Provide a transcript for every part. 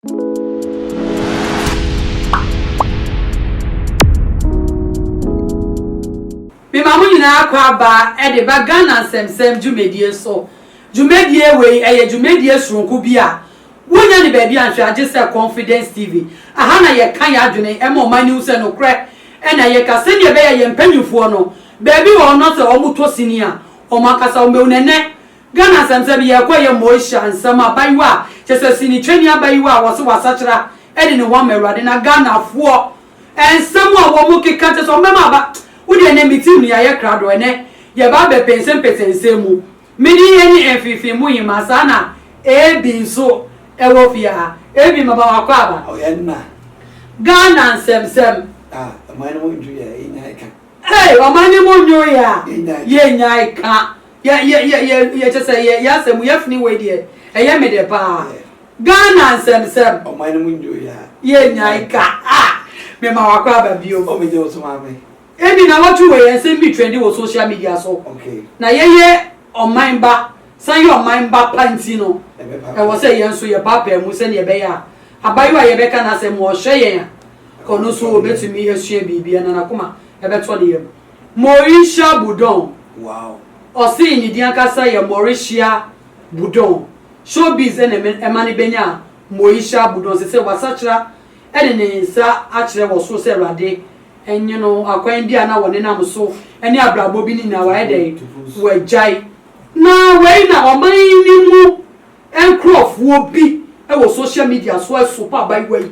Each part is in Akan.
Mema mo nyinaa akwaaba de ba Ghana Nsɛmnsɛm dwumadie so. Dwumadie wei ɛyɛ dwumadie soronko bi a wonnya no baabi anhwɛ a gye sɛ Confidence TV. Aha na yɛka yɛn adwene ɛma ɔman no hu sɛ nokorɛ na yɛka sɛdeɛ ɛbɛyɛ a yɛn mpanyinfoɔ no baabi wɔ hɔ no sɛ wɔtɔ sini a wɔn ankasa wɔbɛhu no. Ɛnɛ Ghana asɛmfɛ no, yɛrekɔ yɛ Moesha nsɛm a abayewa a kyerɛ sɛ sinitwani abayewa a wɔse wasakyera de ne ho ama Awurade na Ghanafoɔ nsɛm a wɔn keka kyerɛ sɛ wɔn bɛma aba wo deɛ ɛnɛ me tirim no yɛayɛ krado ɛnɛ yɛba abɛpɛnsɛmpɛsɛ nsɛm mu me din yɛ ne Mfimfini mu hemaa saa na Ebi nso ɛwɔ fie ha Ebi maba wakɔ aba. Ɔyɛ nna. Ghana nsɛmsɛm. Ah, ɔman no ho dwiri a, yɛnya ɛka. Hey ɔman yi mo nyo yɛ a yɛ nyae ka yɛ yɛ yɛ yɛ yɛ kyesɛ yɛ yɛ asɛm yɛfene wei deɛ ɛyɛ me dɛ paa Ghana nsɛmsɛm ɔman yi mo nyo yɛ a yɛ nyae ka ah me ma wakɔ aba biom oh me gye wo so maame. Ebi na wɔto wei nsɛm bi trendi wɔ social media so Okay. na yɛ yɛ ɔman ba san yɛ ɔman ba pa nti no Ɛbɛ pa ɛwɔ sɛ yɛn nso yɛ paapaa mu sɛdeɛ ɛbɛyɛ a abayewa a yɛbɛka n'asɛm wɔ ɔhwɛ yɛn a Kɔ no so obetumi asua biribi anaa n'akoma bɛtɔ ne yam. Morisha Budon, Ɔse ne din ankasa yɛ Morishia Budon. Showbiz na ɛma no benyaa Moisha Budon. Sesei wasakyera de ne nsa akyerɛ wɔ soro sɛ Awurade nye no. Akwan bi a na wɔnenam so ne abrabɔ bi no nyinaa wayɛ dɛn? Wagyae. Na wei na ɔman no mu. Nkurɔfoɔ bi wɔ social media so resopa abaayewa yi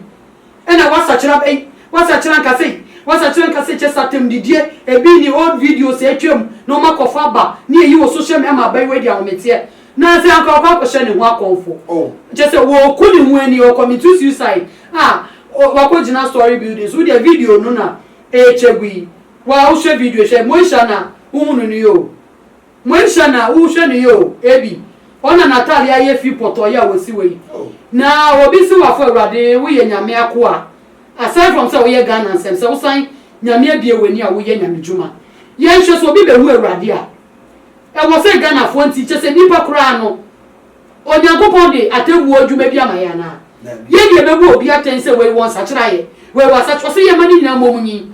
na wasakyera aba yi, wasakyera ankasa yi, wasakyera ankasa yi, kyɛ sɛ atɛmdidie, ebi ne old videos a atwam na wɔn akɔfa aba ne ayi wɔ social media ama abaayewa yi de ahometeɛ na sɛ anka ɔkɔ akɔhyɛ ne ho akɔmfo, kyɛ sɛ wɔku ne ho ani, ɔcommito suicide a wakɔgyina story building so, wo deɛ video no na ɛrekyɛ gu yi, waa wohwɛ video hwɛ, Moesha na wohunu no yi o. Moanhyia no a, wohwɛ no yie o, ebi ɔna n'atadeɛ ayɛ fi pɔtɔɔ yi a wɔsi wɔ yi, na obi se wafo Awurade woyɛ Nyame akoa, aside from sɛ woyɛ Ghana nsɛm, sɛ wosan Nyame abue w'ani a woyɛ Nyame dwuma. Yɛnhwɛ sɛ obi bɛhu Awurade a, ɛwɔ sɛ Ghanafoɔ nti, kyerɛ sɛ nnipa koraa no, Onyankopɔn de atɛnbuo adwuma bi ama yɛn anaa? Yɛn deɛ yɛbɛbu obi atɛn sɛ wei wɔ nsakyeraeɛ, wei wɔ asakyeraɛ, ɔse yɛmma ne nyinaa mmɔ mu nyin.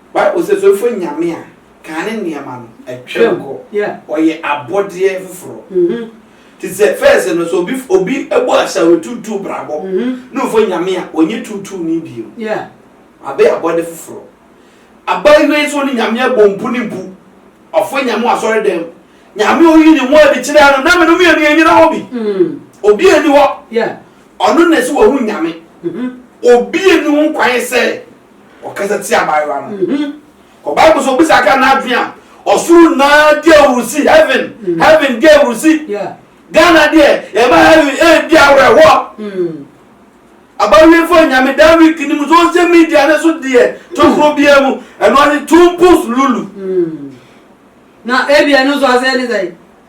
Bible sɛ fɛfo nyame a Kane nneɛma no atwam kɔ, ɔyɛ abɔdeɛ foforɔ. Te sɛ fɛs no sɛ obi bɔ asawe tuutuu brabɔ ne ofo nyame a, ɔnyɛ tuutuu ni bio. Abɛyɛ abɔde foforɔ. Abaayewa yi sɛ ɔne nyame abɔ mpu ne mpu, ɔfo nyame wɔ asɔredɛm. Nyame a ɔyi ne ho adi kyerɛ ano na me no mmienu yɛ nyina hɔ bi. Obi ani hɔ. Ɔno na ɛsɛ wahu nyame. Obi ani ho kwan sɛ Ɔkasa tia abaayewa no. Kɔ Bible so bisa ka n'adwene a ɔsoro naa di awurusi heaven heaven di awurusi. Ghana deɛ yɛma heaven ɛredi awerɛhoɔ. Abawiefo nyame dan week ni mu social media ne so deɛ tokuro biara mu ɛno ane tumpus lulu. Na ebia ɛno nso asɛe ne sɛn?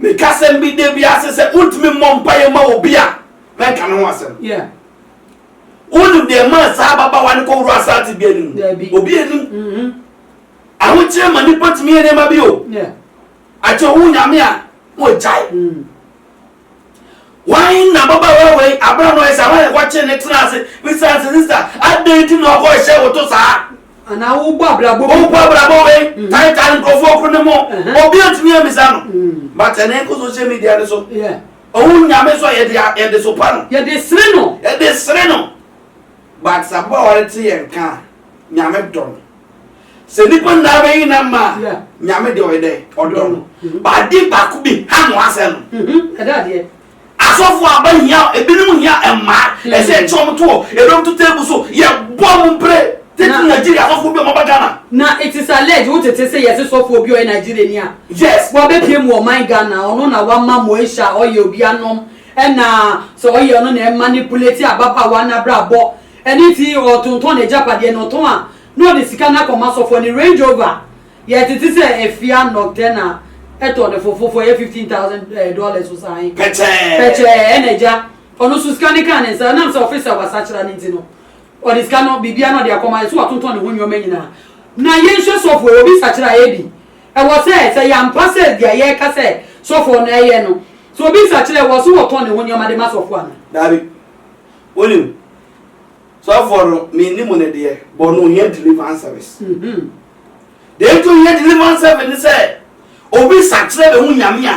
Meka asɛm bi da biara se sɛ wontumi mmɔ mpaeɛ ma obi a, mɛnka ne ho asɛm. Yeah. Wonim deɛ ɛmaa saa ababaawa no kɔworɔ asaa tebea no mu? Daabi. Obi anim. Mm-hmm. Ahokyerɛ ma nipa tumi yɛ nneɛma bi o. Yeah. Akyɛ wo Nyame a, wɔagyae. Mm. Wan na ababaawa wei abra na ɔyɛ saa wan na wɔkye ne tena ase bisa ase sista adɛn nti na ɔkɔ hyɛ wo to saa. Anaa wo bɔ abrabɔ bi. Wo bɔ abrabɔ wei tae tae nkurɔfoɔ okuru ne mo obi antumi amisa no but ɛnɛ nkɔ social media ne so ɔhu nyame so a yɛde yɛde so pa no yɛde sere no yɛde sere no but sɛ ababaawa no te yɛn ka a nyame dɔ no. sɛ nipa nyinaa bɛyi nam ma nyame deɛ ɔyɛ dɛ ɔdɔ no baade baako bi ha no asɛ no mhm. asɔfo aba hia ebinom hia mmaa mhm. ɛsɛ ɛkyɛ ɔmo to hɔ ebinom to teebu so yɛ bɔ ɔmo mpere tete nigeria asɔfo bi ɔmo ba ghana. na it is alleged wo tete se yɛse sɔfo bi ɔyɛ nigeria ni a. yes wabɛpie mu ɔman ghana ɔno na wama moesha ɔyɛ obi anom ɛna sɛ ɔyɛ ɔno na ɛma ne buleti ababaawa n'abrabɔ ɛne ti ɔtontɔn n'agyapadeɛ na ɔtɔn a. na ɔde sika no akɔma sɔfoɔ no, Range Rover, yɛ tete sɛ Efia Nocturna, ɛtɔ no fofo fo, ɛyɛ fifteen thousand dollars o saa he, Pɛkyɛɛ. pɛkyɛɛ, ɛna agya, ɔno nso sika no kaa ne nsa, ɛnam sɛ ɔfe sɛ wasakyera no nti no, ɔde sika no, biribiara na ɔde akɔma, ɛsɛ sɛ watontɔn ne ho nnoɔma nyinaa. Na yɛnhwɛ sɔfoɔ yi, obi sakyera a, ɛyɛ bi? Ɛwɔ sɛ, sɛ yɛ ampa sɛ deɛ yɛreka sɛ sɔfoɔ no ɛyɛ no, sɛ obi sakyera a, ɛwɔ sɛ ɔtɔn ne ho nnoɔma de ma sɔfoɔ anaa? Daabi. Wonim. Sɔfoɔ no menni mo no deɛ bɔ no ohia deliverance service deɛ nti ohia deliverance service ne sɛ obi sakyerɛ bɛ ho nyame a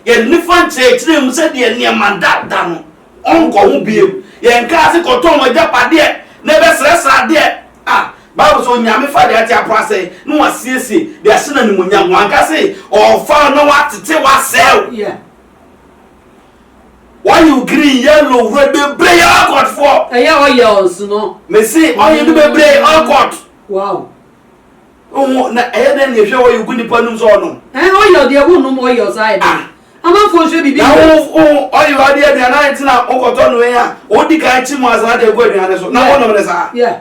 yɛde ne fa nkyerɛkyerɛ mu sɛ deɛ nneɛma da da no ɔnkɔ ho biem yɛn kaa se kɔtɔn mo agyapadeɛ na ɛbɛ srɛsrɛ adeɛ a bible sɛ onyame fa deɛ ate apɔ asɛe na wasiesie deɛ ahyɛ no animonyam wanka se ɔfa na watete wasɛe yeah. Oil green, yellow, red bebree yɛ oil court foɔ. Ɛyɛ oils no. Mese oil no bebree oil court. Wow. Oho na ɛyɛ dɛ na ehwɛ oil gu nipa num sɛ ɔnom. Ɛn oil deɛ wo nom oil saa ɛdɛ. Ah. Amanfoɔ nhwɛ bibi. Na wo wo oil adi aduane ayɛ ntina wokɔtɔ no wei a wodi kan kyi mu asan de egu aduane so na wonom ne saa. Yeah.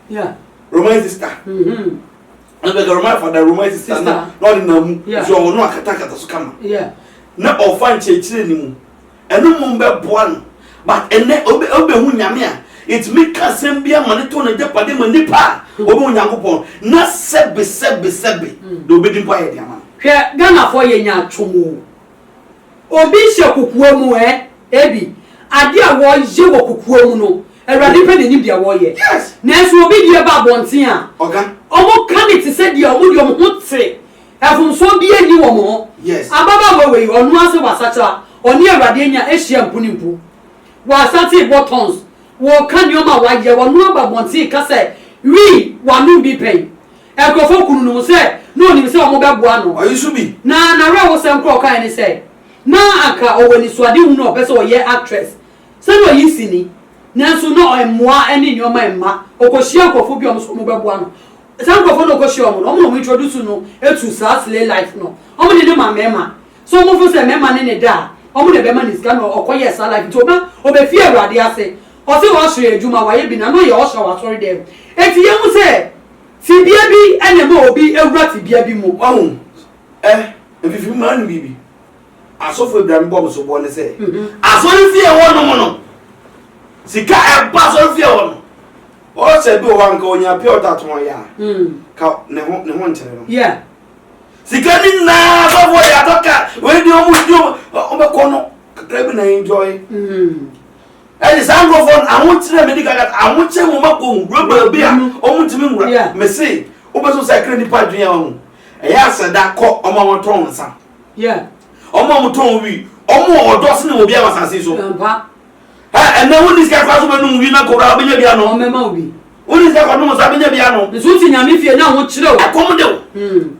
Yeah. Roman sister. Mm-hmm. And the Roman father, Roman sister, sister. na na ɔde na mu. Yeah. So ɔwɔ no akatakata so kama. Yeah. Na ɔfa nkyerɛkyerɛ ne mu. Ɛno mu bɛ boa no. But ɛnɛ obe obe hu nyame a. Etumi ka asɛm bi ama ne to ne dapade ma nipa a. Mm. Obe hu nyankopɔn. Na sɛbe sɛbe sɛbe. Mm. Na obe di mpa yɛ di ama. Hwɛ Ghana fo yɛ nya atwom o. Obi hyɛ kokoa mu ɛ? Ebi. Adeɛ a wɔyɛ wɔ kokoa mu no, Awurade pɛ na ɛnim deɛ wɔyɛ. Nanso obi deɛ ba abɔnten a, wɔka no te sɛ deɛ wɔde wɔn ho te, mfomsoɔ biara nni wɔn ho. Ababaawa wei, ɔno ara sɛ wasakyera, ɔne Awurade anya ahyia mpunimpu. Wasate rebɔ tons, wɔka nneɛma a wayɛ, ɔno ara ba abɔnten reka sɛ, Wii, w'ano bi pɛn? Nkurɔfoɔ kunu no mu sɛ na ɔnim sɛ wɔbɛboa no. Ɔyi so bi. Na n'awerɛhosɛm korɔ a ɔkaeɛ ne sɛ, na anka ɔwɔ anisoadehunu a ɔpɛ sɛ ɔyɛ actress sɛdeɛ ɔyɛ sini, nanso na mmoa ne nneɛma mma. Ɔkɔhyiaa nkurɔfoɔ bi a wɔn nso wɔbɛboa no. Saa nkurɔfoɔ no a ɔkɔhyiaa wɔn no, wɔn na wɔn introduce no to saa slay life no. Wɔn de no ma mmarima. Sɛ wɔn feel sɛ mmarima ne no da a, wɔn na ɛbɛma no sika na ɔkɔyɛɛ saa life nti ɔba ɔbɛfie Awurade ase. Ɔse usher adwuma wayɛ bi na na ɔyɛ usher wɔ asɔredɛm. Enti yɛhu sɛ. Fibea bi na ɛma obi wura fibea bi mu. Wahu? Ɛ, mfifiri mmara no biribi. Asɔfo abirame bɔ me soboɔ ne sɛ, asɔrefie hɔ nom no, sika a ɛba asɔrefie hɔ no, ɔɔsɛ bi wɔ hɔ a nka ɔnya pure water tɔn yɛ a, nka ne ho, ne ho nkyere no. Yeah. Sika no nyinaa asɔfo de atɔ car, wei deɛ ɔmo di ɔmo, ɔbɛkɔ no kakra bi na enjoy. Mm. Ɛde saa nkurɔfoɔ no ahokyere na medi kan kata ahokyere wɔn akɔ mu wura baabi a wɔn ntumi nwura mese wobɛso sɛ kra nipa adwene a wɔn ɛyɛ asɛda kɔ wɔn a wɔtɔn nsa wɔn a wɔtɔn wi wɔn wɔ ɔdɔ sene obi a wɔ asase so ɛnna wɔn nisika kora so bɛnum wi na kora bɛnya bi ano wɔn nisika kora nom nsa bɛnya bi ano nso ti nyame fie na ahokyere o ɛkɔm de o hmm.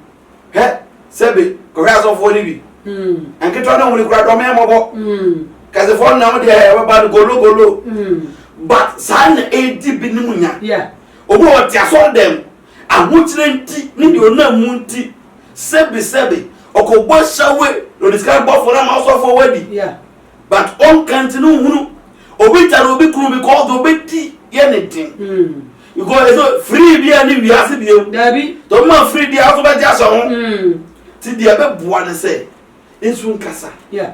Hɛ, sɛbe, kɔhwɛ asɔfoɔ no bi. Mm. Nketewa ne wɔn kura dɔmɛ mmɔbɔ. Mm. Kɛsefoɔ nam deɛ ɛbɛba no gologolo. Mm. But saa na ɛredi binom nya. Yeah. Obi wɔ te asɔre dɛm, ahokyerɛ nti ne deɛ ɔnam mu nti, sɛbe sɛbe, ɔkɔbɔ asawe na ɔde sika bɔfoɔ no ama asɔfoɔ wadi. Yeah. But ɔnka nti no nhunu. Obi tare obi kunu because deɛ ɔbɛdi yɛ ne den. Mm. Because ɛsɛ free bi a ne wiase bi ewu. Dabi. Tɔ mo ma free bi a ɔso bɛ gye ahyɛ ho. Mm. Ti deɛ bɛ boa ne sɛ nsu nkasa. Yeah.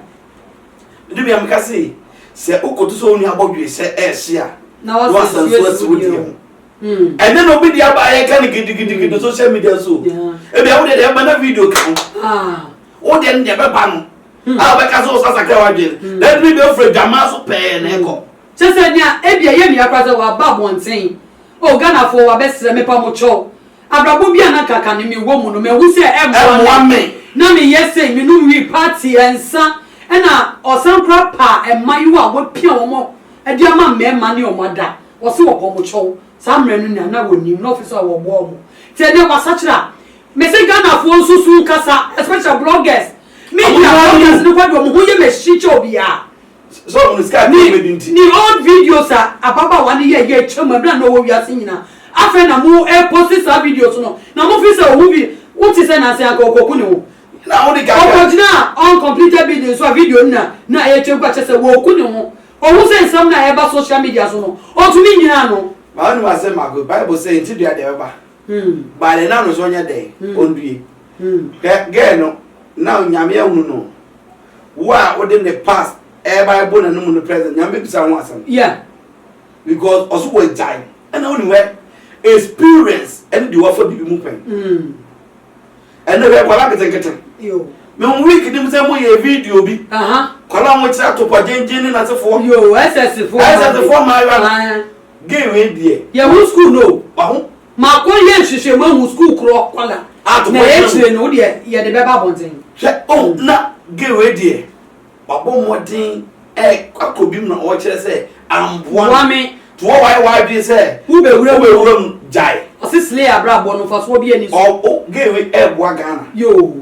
Ne nua mi ka se sɛ okoto sɛ onua abɔ dwe sɛ ɛɛhye a. Na wa sa nsu asi wo deɛ ho. Mm. Ɛnɛ na obi deɛ aba ayɛ ka ne gidigidi mm. social media so. Yeah. Ebi awo deɛ deɛ ɛma na video ka ho. Ah. Wo deɛ ne deɛ bɛ ba no. Hmm. A bɛ ka sɛ ɔsasa kɛ wa dwe. Hmm. Ɛbi bɛ fura dwamaa so pɛɛ na ɛkɔ. Kyerɛ sɛ nea ebia ɛyɛ nea koraa sɛ waba abɔnten, Oh Ghanafoɔ wabɛsrɛ me pa mo kyɛw, abrabɔ bi a na nka kane me wɔ mu no mahu sɛ ɛmmoa me, na me yɛ sei me nom wii party nsa ɛna ɔsan koraa paa ɛmmayewa a wapia wɔn de ama mmarima ne wɔn ada, wɔse wɔpɔ mo kyɛw, saa mmerɛ no nea na wɔnim na ɔfe so a wɔboa wɔn nti ɛnɛ wasakyera a me se Ghanafoɔ nso so nkasa especially bloggers, media bloggers no kɔ de wɔn ho yɛ machine kyɛ obiara. sɛ ɔno sika ne ɔbɛdi nti. ne old videos a ababaawa no yɛ yɛ kyɛ mu ɛberɛ a na ɔwɔ wiase nyina afei na mo ɛposi saa videos no na mo fi sɛ ɔho bi wo te sɛ nansi anka ɔkɔku ne ho na wode kaka ɔkɔ gyina uncompleted building so a video no na na ɛretwa gu akyɛ sɛ wɔku ne ho ɔho sɛ nsɛm no a ɛba social media so no ɔtumi nyina ano. Maa ɔnim asɛm baako bible sɛ nti dua deɛ ɛbɛba baale na ano so ɔnyɛ dɛn ɔndue hwɛ gɛɛ no na onyame ahunu no. wo a wode ne past ɛɛba ɛbɔ n'anum no present nyame bɛbisa ho asɛm yeah because ɔso wɔ agyae ɛna wone wɛ experience ɛne deɛ wafa biribi mu pɛn mm. ɛnɛ wɛ kwala nketenkete mehu week nim sɛ moyɛ video bi kwala ho kyerɛ atopɔ gyengyen ne nasefoɔ ɛsɛsefoɔ maawa gay wei deɛ yɛho school no waho Makɔ yɛ nhwehwɛmu ahu sukuu korɔ kɔla na akyire no wodeɛ yɛde bɛba abɔnten. Hwɛ oh na gay wei deɛ wabɔ mmɔden ɛkɔ akɔ bi mu na ɔrekyerɛ sɛ amboa me nti wɔ wayɛ w'adwene sɛ wobɛwura mu gyae. Ɔse slay abrabɔ no mfasoɔ biaa ni so. Ɔɔ oh gay wei ɛɛboa Ghana. Yoo.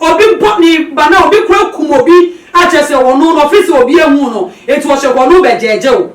Obi bɔ ne ba na obi kɔ akum obi a, kyerɛ sɛ ɔno no ɔfiri sɛ obi ahu no, enti ɔhyɛ kɔ no bɛgyɛɛgyɛw.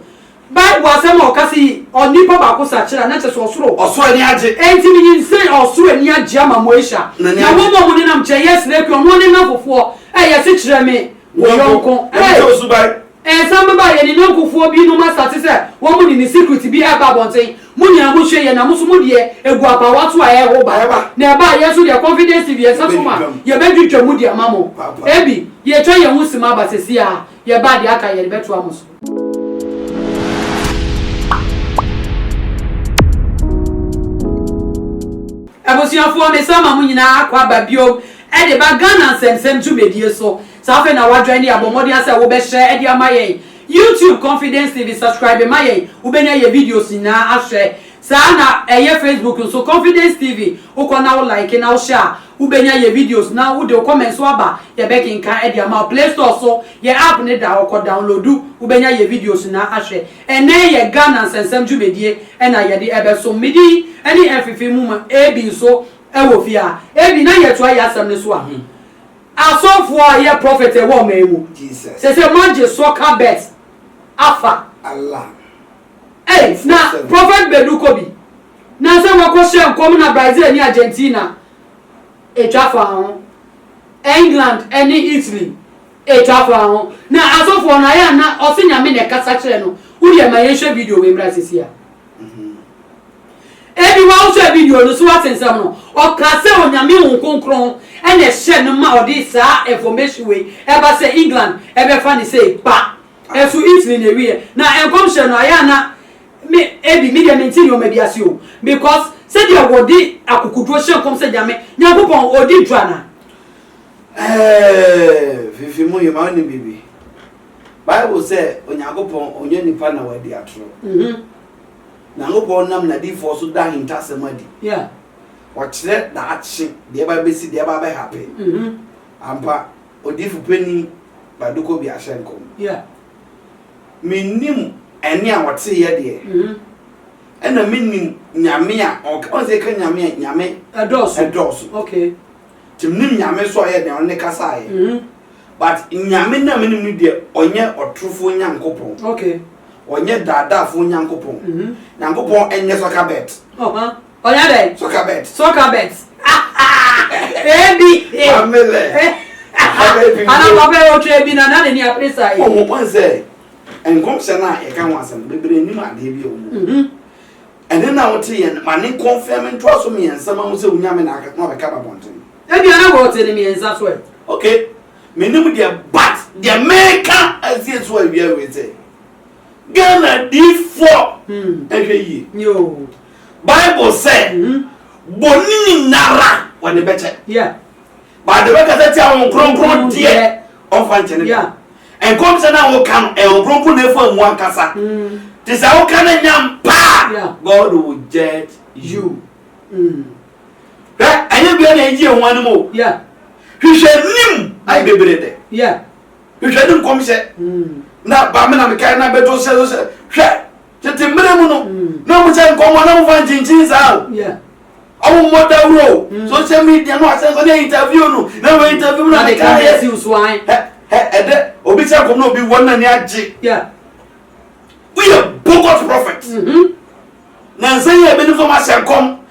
Bible asɛm a ɔka sɛ yi onipa baako sakyera na kyerɛ sɛ ɔsoro. Ɔsoro ani agye. Enti menyin sɛ ɔsoro ani agye ama Moesha, na wɔn a wɔnenam nkyɛn, Yesrekia, ɔno ne nnamfofoɔ, ɛyɛ se kyerɛ me wo yɔnko. Hey! Ɛsan bɛba a yɛn ne yɔnkofoɔ bi nom asate sɛ wɔn mo de ne secret bi ɛreba abɔnten. Mo nyinaa mo hwɛ yɛ na mo nso mo deɛ ɛgu apaawa so a ɛreho ba. Na ɛba a yɛn nso deɛ Confidence TV yɛn nsa som a yɛbɛdwidwa mu de ama mo. Ɛbi, yɛretwa yɛn ho sima aba sɛsi ara yɛba a deɛ aka yɛde bɛtoa mo so. Abusuafoɔ, mesan ma mo nyinaa akɔ aba biom ɛde ba Ghana nsɛmsɛm dwumadie so. Saa afei na wadwan ni abɔ mmɔden asɛ wo bɛ share de ama yɛn YouTube confidence TV subscribe ma yɛn wo bɛ nya yɛ videos nyinaa ahwɛ saa na ɛyɛ Facebook nso confidence TV wo kɔ na wo like na wo hyɛ a wo bɛ nya yɛ videos na wo de wo comment nso aba yɛ bɛ kenkan de ama wo play store so yɛ app no da hɔ kɔ downloadu wo bɛ nya yɛ videos nyinaa ahwɛ ɛnɛ yɛ Ghana nsɛnsɛm dwumadie ɛna yɛ de ɛbɛ som me din ɛne ɛnfefe mu ma Abby nso ɛwɔ fie a Abby na yɛ toa yɛ asɛm no so a. Asɔfoɔ a yɛ prophet ɛwɔ ɔman yi mu sese mo agye soɔ ka bet afa ei na prophet bedu kɔ bi na sɛ wakɔ hyɛ nkɔm na Brazil ne Argentina etwa fa ho England ɛne Italy etwa fa ho na asɔfoɔ no ayɛ ana ɔse nyame na ɛkasa kyerɛ no wo deɛ ma yɛnhwɛ video wei mmra sese a. Ebi wɔ wohwɛ video no so wate nsɛm no ɔka sɛ onyame honhom kronkron ɛna ɛhyɛ no ma ɔde saa information wei ɛba sɛ England ɛbɛfa no sei ba ɛso Italy na ɛwieɛ na nkɔmhyɛ no ayɛ a na me ebi me deɛ mente nnoɔma bi ase o because sɛdeɛ wɔde akokoduro hyɛ nkɔm sɛ nyame nyankopɔn ɔdi dwa na. Ɛɛɛɛɛɛ fifi mu yema wonim biribi. Bible sɛ Onyankopɔn ɔnyɛ nipa na wadi atoro. Nyankopɔn nam n'adiyifoɔ so da ahintasɛm adi. Ɔkyerɛ daakye deɛ ɛba bɛsi, deɛ ɛba bɛhape. Ampa, odiyifo panin Baduko bi ahyɛ nkɔm. Mennim ɛnne a ɔteeɛ deɛ, ɛna mennim Nyame a ɔka, ɔnsɛ ɛka Nyame a, Nyame ɛdɔɔso. Nti menim Nyame so ɔyɛ dɛn ɔne kasaeɛ but Nyame no a menim no deɛ ɔnyɛ ɔtorofoɔ Nyankopɔn okay ɔnyɛ daadaafoɔ Nyankopɔn Nyankopɔn ɛnyɛ soccer bet ɔnyɛ dɛn soccer bet soccer bet ebi amele ana papa yɛ ɔtwa ebi na na ne ni apere saa yi ɔmo pɔn sɛ nkɔmhyɛ no a yɛka ho asɛm bebree nim adeɛ bi a ɔmo Ɛnɛ na wote yɛ no, ma ne kɔnfɛme ntoaso mmiɛnsa ma hu sɛ wo Nyame na aka na wabɛka ba bɔnten. Ebia na wɔte no mmiɛnsa so ɛ. Ok, menim deɛ but deɛ meka asie so awia wei sɛ, Ghana diifoɔ nhwɛ yie. Bible sɛ, bɔne nyinara wɔde bɛkyɛ. But deɛ bɛkasa tia wɔn kronkron deɛ wɔmfa nkyɛ no da. Nkɔm sɛ na woka no ɛwɔ kronkron na efu amu ankasa. Te sɛ woka no nyam pa a, God will judge you. Hwɛ, ɛnyɛ bia na egye ehu anim o. Hwehwɛ nim ayɛ bebree dɛ. Hwehwɛ ne nkɔmhyɛ. Na ba me na mekae na bɛtɔ sɛ sɛ hwɛ. Tete mmerɛ mu no, na ɔmo hyɛ nkɔmmɔ na ɔmo fa nkyinkyin saa o. Ɔmo mmɔ dawuro o, social media no asɛm sɛ ne interview no, na wɔ interview no ne kan yɛ. Hɛ hɛ ɛdɛ obi hyɛ nkɔmmɔ na obi wɔ na ni agye. Woyɛ bogus prophet. Nansa yi a ebi ne fam ahyɛ nkɔm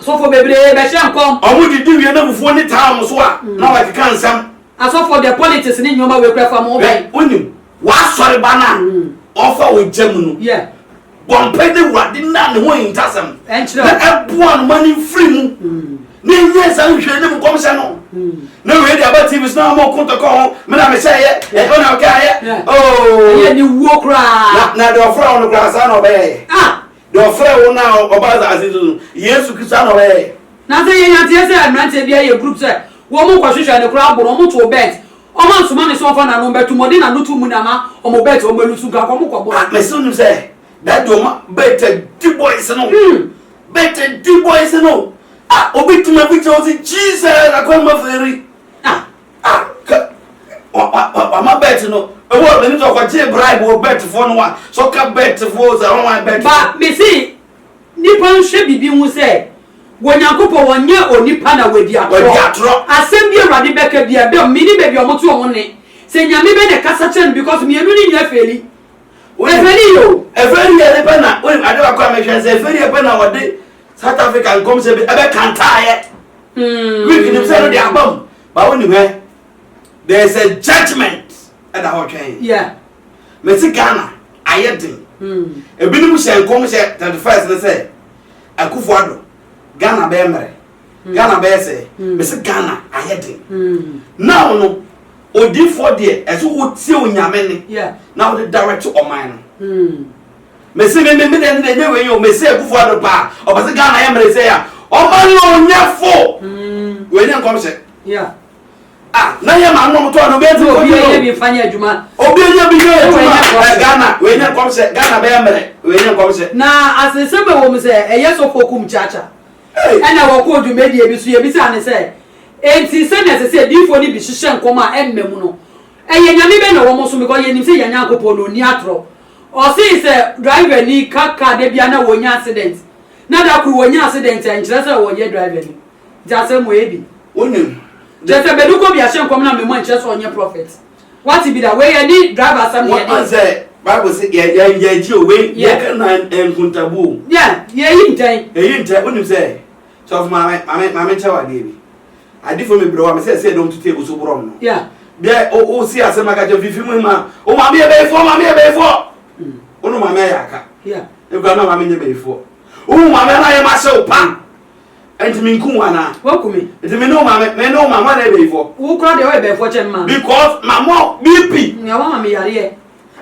Asɔfoɔ bebree bɛhyɛ nkɔm. Wɔn de di wie na abufuo ne taa wɔn so a na wɔkeka nsɛm. Asɔfoɔ deɛ politics ne nnoɔma wei koraa fa mo ho bɛn. Hwɛ, wonim w'asɔre ba no a ɔfa wo gya mu no? Yeah. Bɔ mpae na Awurade nna ne ho ahintasɛm Ɛnkyerɛ na wo. ɛboa no ma no mfiri mu na ɛnyɛ nsa nhwɛ anim nkɔmhyɛ no. Na wei deɛ aba TV so na wɔn reko ntɔkwa ho, me na mehyɛeɛ, ɛnyɛ wo na wokaeɛ, Yeah. Ɛyɛ oh! aniwuo koraa. Na, na deɛ ɔfrɛɛ wo no koraa saa na ɔbɛyɛeɛ. Ah! Deɛ ɔfrɛɛ wo no a ɔbaa asase so no, Yesu Kristo ara na ɔbɛyɛ. Nansa yi yɛnyaa nteɛ sɛ mmeranteɛ bi ayɛ group sɛ wɔn rekɔhwehwɛ no koraa bo no wɔn too bet wɔn ansoma ne sɛ wɔmfa nanom bɛto mu ɔde nano too mu na ama wɔn bet wɔn alusu nka wɔn kɔ bɔ. Ah mese wonim sɛ that deɛ wɔn bet adi boys no hmm. bet adi boys no ah obi tuma bi kyerɛ wo sɛ Jesus akɔnma fɛri ah. Ah ka wa wa wa wama bet no ewu a meni sɛ ɔkɔgye bribe wɔ bet foɔ no a sɛ ɔka bet foɔ sɛ ɔnwan bet Ba foɔ. mese nipa nhwɛ bibi hu sɛ wɔ Nyankopɔn wɔ nyɛ onipa na wɔ di atorɔ. Wadi atorɔ. Asɛm bi Awurade bɛka bia dɔm meni baabi ɔmo to ɔmo nne sɛ Nyame bɛ na ɛkasa kyerɛ no because mienu no nyina feli. Wonim Ɛfeli yɛ o. ɛfeli yɛ ne pɛ na wonim ade baako a mehwɛ sɛ ɛfeli yɛ pɛ na wɔde South Africa nkɔmhyɛ bi ɛbɛ kantaeɛ. Greek nim sɛ no de aba mu ba wo nim ɛ there is a judgement ɛda hɔ twɛn mɛsi Ghana ayɛ den ebinom hyɛ nkɔm hyɛ thirty first ne sɛ akufo ado Ghana bɛyɛ mmerɛ Ghana bɛyɛ sɛ mɛsi Ghana ayɛ den now no odiifoɔ deɛ ɛso wotie onyame ne na wode direct ɔman no. Mese me me me deɛ deɛ nyɛ wei o mese akufo ado paa ɔpɛsɛ Ghana yɛ mmerɛ sɛ ya ɔma no onyɛ fo wei nyɛ nkɔmhyɛ yeah ah na yɛ maa nom tɔɔ no bɛɛ ti obi yɛ bi fa nyɛ adwuma obi yɛ bi nyɛ adwuma ɛ Ghana wei nyɛ nkɔmhyɛ Ghana bɛyɛ mmerɛ wei nyɛ nkɔmhyɛ na asese bɛ wɔ mu sɛ ɛyɛ sɔfo kum kyaakya ɛna wɔkɔ dwumadie bi so yɛ bi sɛ ane sɛ enti sɛ na ɛsɛ sɛ diifo no bi hyehyɛ nkɔm a ɛmma mu no ɛyɛ nyame bɛ na wɔn so because yɛ nim sɛ yɛ nyankopɔn na oni atorɔ Ɔsee sɛ driver ni ka car da biara na wɔnya accident na da koro wɔnya accident a nkyerɛ sɛ ɔnyɛ driver ni nti asɛm wɔ ebi wonim kyerɛ sɛ bɛde kɔ bi ahyɛ nkɔm na mema nkyerɛ sɛ ɔnyɛ prophet wate bi da wei ɛne driver asɛm deɛ deɛ. Wɔn sɛ bible sɛ yɛ yɛ yɛ gye o wei yɛ ka na nkuntabu o. Yeah yɛ yi ntɛn. Yɛ yi ntɛn wonim sɛ Sɔfo maame, maame, maame kyɛw adeɛ bi. Adifo me brɛ wa me sɛ sɛ dɔm tutu egu so borɔm no. Yeah. Bia o o si asɛm aka kyɛ fifi mu ma. O maame yɛ bɛyifoɔ, maame yɛ bɛyifoɔ. Mm. O no maame ayɛ aka. Yeah. Ekura na maame nyɛ bɛyifoɔ. O maame ana yɛ ma sɛ o pa. Ɛnti mi nku wa na. Wɔ ku mi. Ɛnti mi ne o maame, mi ne o maame ana yɛ bɛyifoɔ. Wo kura deɛ ɔyɛ bɛyifoɔ kyɛn ma. Because maame ɔ BP. Nga wa maame yareɛ.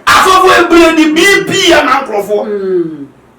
Asɔfo ebire di BP yɛ ma nkorɔfoɔ. Mm.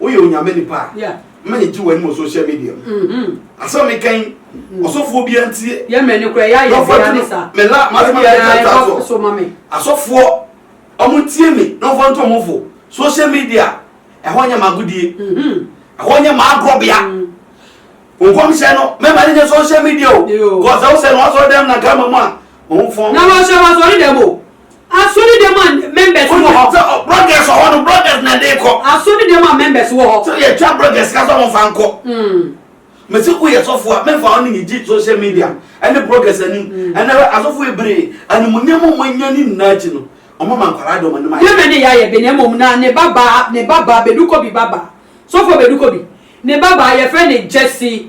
Woyɛ Onyame nipa a, mma yɛgye w'anim wɔ social media mu. Mm-hmm. Asɛm meka yi, mm-hmm. ɔsɔfoɔ bia ntie. Yɛ mɛ ne kura yɛ ayɛ bia ne sa. Mɛ la, ma sɛma yɛ ta ta so. Asɔfoɔ, ɔmo ntie mi, na ɔfɔ ntɔ ɔmo fo. Social media, ɛhɔ nyɛ ma agodie. Mm-hmm. Ɛhɔ nyɛ ma agorɔ bia. Nkɔmhyɛ no, mɛma ne nyɛ social media o. Kɔsɛ wosɛ no wasɔre dɛm na gama mu a, ɔmo fɔn. Na wɔhyɛ wasɔre dɛm o. Asɔre dɛm a members wɔ hɔ. Wonim sɛ bloggers wɔ hɔ no bloggers na ɛde kɔ. Asɔre dɛm a members wɔ hɔ. Sɛ yɛ twa bloggers ka sɛ wɔn fa nkɔ. Mesi wo yɛ sɔfo a mefa wɔn ne yɛgye social media ɛne bloggers anim ɛnɛ hwɛ asɔfo ebree animuonyam a wɔn anya ne nyinaa akyi no wɔn ama nkwadaa de wɔn anim ayɛ. Yɛmɛ ne yɛayɛ bi na mmom na ne babaa ne babaa bedukobi babaa sɔfo bedukobi ne babaa yɛfrɛ ne Jesse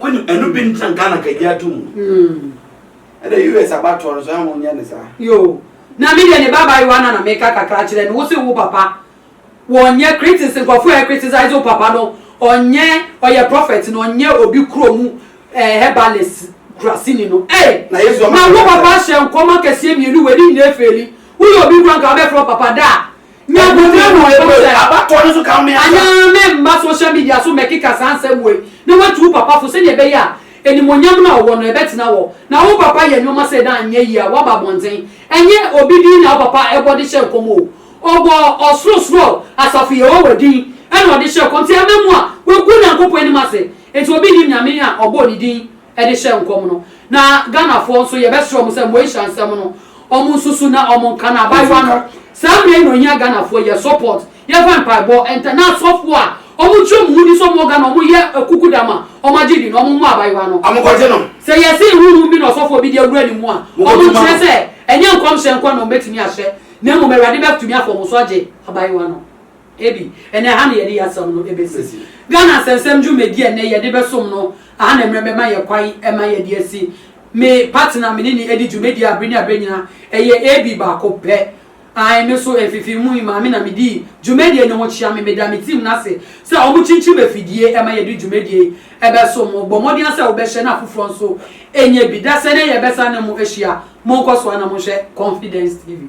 Wonim ɛno bi ntina Ghana ka gye ato mu. Ɛna US abatoɔ no so ɛho nyɛ ne saa. Yoo. Na me deɛ ne ba abayewa no na meka kakra kyerɛ no, wo se wo papa wɔnyɛ critics nkurɔfoɔ ɛ criticize wo papa no ɔnyɛ ɔyɛ prophet no ɔnyɛ obi kuro mu eh, herbalist kurasini no eh, na yesu ama na wo papa hyɛ nkɔm akɛseɛ mmienu wɔ ɛdi nyinaa fɛli woyɛ obi kura nka wobɛfrɛ papa da a Na bonsam na ɔka sɛ. Ebue abatoɔ no so ka me asa. Anaa mɛmma social media so mmɛkeka saa nsɛm wei na watu wo papa fo sɛdeɛ ɛbɛyɛ a animuonyam no a ɔwɔ no ɛbɛtena hɔ. Na wo papa yɛ nnoɔma sei na anyɛ yie a woaba abɔnten. Ɛnyɛ obi din na wo papa bɔ de hyɛ nkɔm o. Ɔbɔɔ ɔsorosoro asafo Yehowa din na ɔde hyɛɛ nkɔm. Nti ɛmma mu a, wagu Onyankopɔn anim ase. Nti obi nnim Nyame a ɔbɔɔ ne din. de hyɛ nkɔm no na Ghanafoɔ nso yɛbɛsrɛ wɔn sɛ Moesha nsɛm no wɔn nsusu na wɔn nka no abaayewa no saa mmerɛ yi na ohia Ghanafoɔ yɛ support yɛfa mpaebɔ nta na asɔfoɔ a wɔn kyerɛ wɔn ni sɛ wɔn wɔ Ghana wɔn yɛ kuku da ma wɔn agye di no wɔn mmɔ abaayewa no wɔn kɔgye no sɛ yɛse huhum bi na ɔsɔfoɔ bi de awura ne mu a wɔn nkyerɛ sɛ ɛnyɛ nkɔmhyɛ nko na wɔn bɛtumi ahyɛ na mmom Awurade bɛtumi afa wɔn so agye abaayewa no. Ebi, ɛnɛ ɛha na yɛde yɛ asɛm no ɛbɛsi. Ghana Asɛnsɛm dwumadi a ɛnɛ yɛde bɛsom no aha na mmerɛ bɛma yɛ kwan ɛma yɛde asi. Me partner me ne no ɛdi dwumadi a berɛ ne aberɛ nyina ɛyɛ AB baako pɛ. Ae, me nso mfifii mu yi maame na me dii dwumadie no ho kyea. Me meda me team no ase sɛ wɔn kyinkyim afidie ɛma yɛde dwumadie yi ɛbɛsom mo. Bɔ mmɔden ara sɛ wo bɛhyɛ na afoforɔ nso ɛnyɛ bi. Dasɛ ɛnɛ yɛbɛsane mo ahyia. Monkɔ soa na monhwɛ Confidence TV.